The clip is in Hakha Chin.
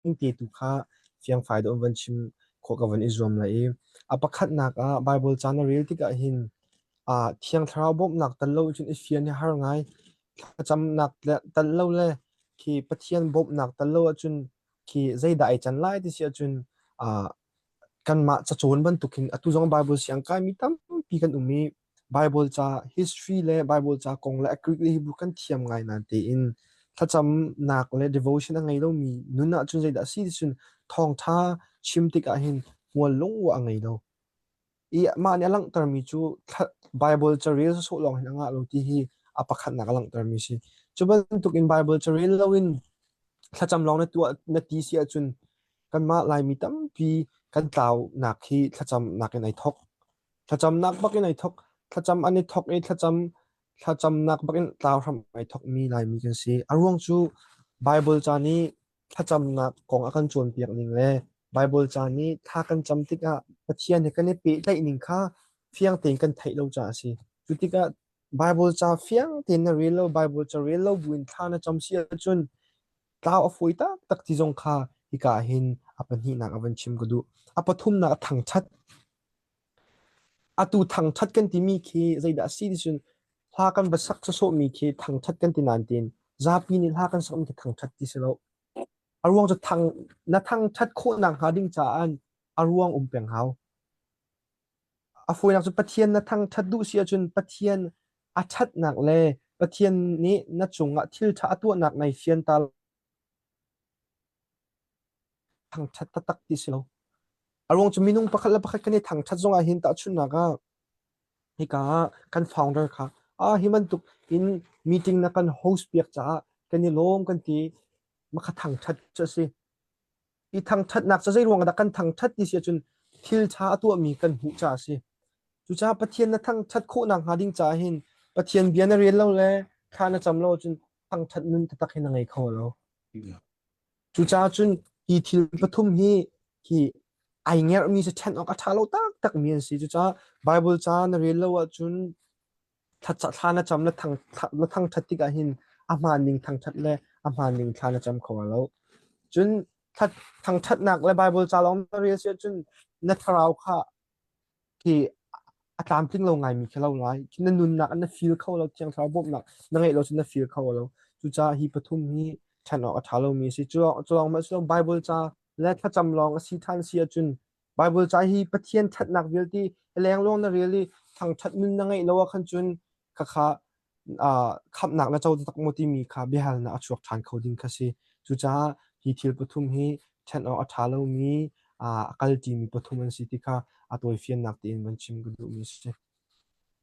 Hngilhte tu kha fiangfai dawh in van chim khawh ka van i zuam lai i a pakhatnak ah Baibal caan a rel tikah hin aa Thiang Thlarau bawmhnak tel lo cun i fian hi a har ngai. Thlacamnak le tel lo le khi Pathian bawmhnak tel lo ahcun khi zeidah ai can lai ti si ahcun aa kanmah cacawn bantuk hin atu zong Baibal siangkai mi tampi kan um i Baibal ca, history le Baibal ca kong le a Greek le Hebrew kan thiam ngai nain tein thlacamnak le devotion a ngei lomi nun ahcun zeidah a si ti cun thawngṭha chim tikah hin hmual lungawh a ngei lo. I mah nih a langhtermi cu thla- Baibal carel sawsawh lawng hin a ngah lo ti hi a pakhatnak a langhtermi a si. Cu bantukin Baibal carel loin thlacam lawng na tuah na ti si ahcun kanmah Laimi tampi kan tlaunak hi thlacamnak in ai thawk. Thlacamnak bakin ai thawk. Thlacam an i thawk i thlacam thlacamnak bakin tlau hram ai thawkmi Laimi kan si. A ruang cu Bible ca nih thlacamnak kong a kan cawnpiak ning le Bible ca nih thla kan cam tikah Pathian he kan i pehtlaih ning kha fiang tein kan theih lo caah a si. Cu tikah Bible ca fiang tein na rel lo, Bible ca rel lo buin thla na cam si ahcun tlau a fawi taktak ti zong kha hika ah hin a pahnihnak a van chim ka duh. A pathumnak a thangṭhat. Atu thangthat kan timi khi zeidah a si ticun hla kan va sak sawsawhmi khi thangthat kan ti nain zapi nih hla kan sak mi khi thangthat ti si lo. A ruang cu thang na thangthat khawh nakhnga ding caah in a ruang um peng hau. A fawinak cu Pathian na thangthat duh si ahcun Pathian a thatnak le Pathian nih na cungah thil tha a tuahnak nai fian ta Thangṭhat taktak ti si lo. A ruang cu minung pakhat le pakhat kan i thangṭhat zong ahhin tahchunhnak ah hika ah kan founder kha ah hi bantuk in meeting na kan host piak caah kan i lawm kan ti makha thangṭhat cu a si. I thangṭhatnak cu zei ruang dah kan thangṭhat ti si ahcun thil ṭha a tuahmi kan hmuh caah a si. Cucaah Pathian na thangṭhat khawh nakhnga ding caah hin Pathian bia na rel lo le thla na cam lo ahcun thangṭhat nun taktak hin a ngei kho lo. Cucaah cun hi thil pathum hi hi ai ngerhmi si ṭhen awk a ṭha lo taktakmi an si. Cucaah Bible ca na rel lo ahcun thla na cam na thang na thangṭhat tikah hin a hmaan ning thangṭhat le a hmaan ning thla na cam kho lo. Cun thangṭhatnak le Bible ca lawng na rel si ahcun na thlarau kha khi a tlamtling lo ngaimi khi a lo lai. Khi na nunnak ah na feel kho lo, Thiang Thlarau bawmhnak na ngeih lo cu na feel kho lo. Cucaah hi pathum hi ṭhan awk a ṭha lomi a si. Cu lawng cu lawng mah cu lawng Bible ca le thlacam lawng a si ṭhan si ahcun Bible ca hi Pathian ṭhatnak vialte lengluang na rel i thangṭhat nun na ngeih lo ah khan cun khakha khamhnak na co taktak maw timi kha biahalnak a chuak ṭhan kho ding kha si. Cucaah hi thil pathum hi ṭhen awk a ṭha lomi, a kalṭimi pathum an si ti kha a tawifiannak tein van chim ka duhmi a si.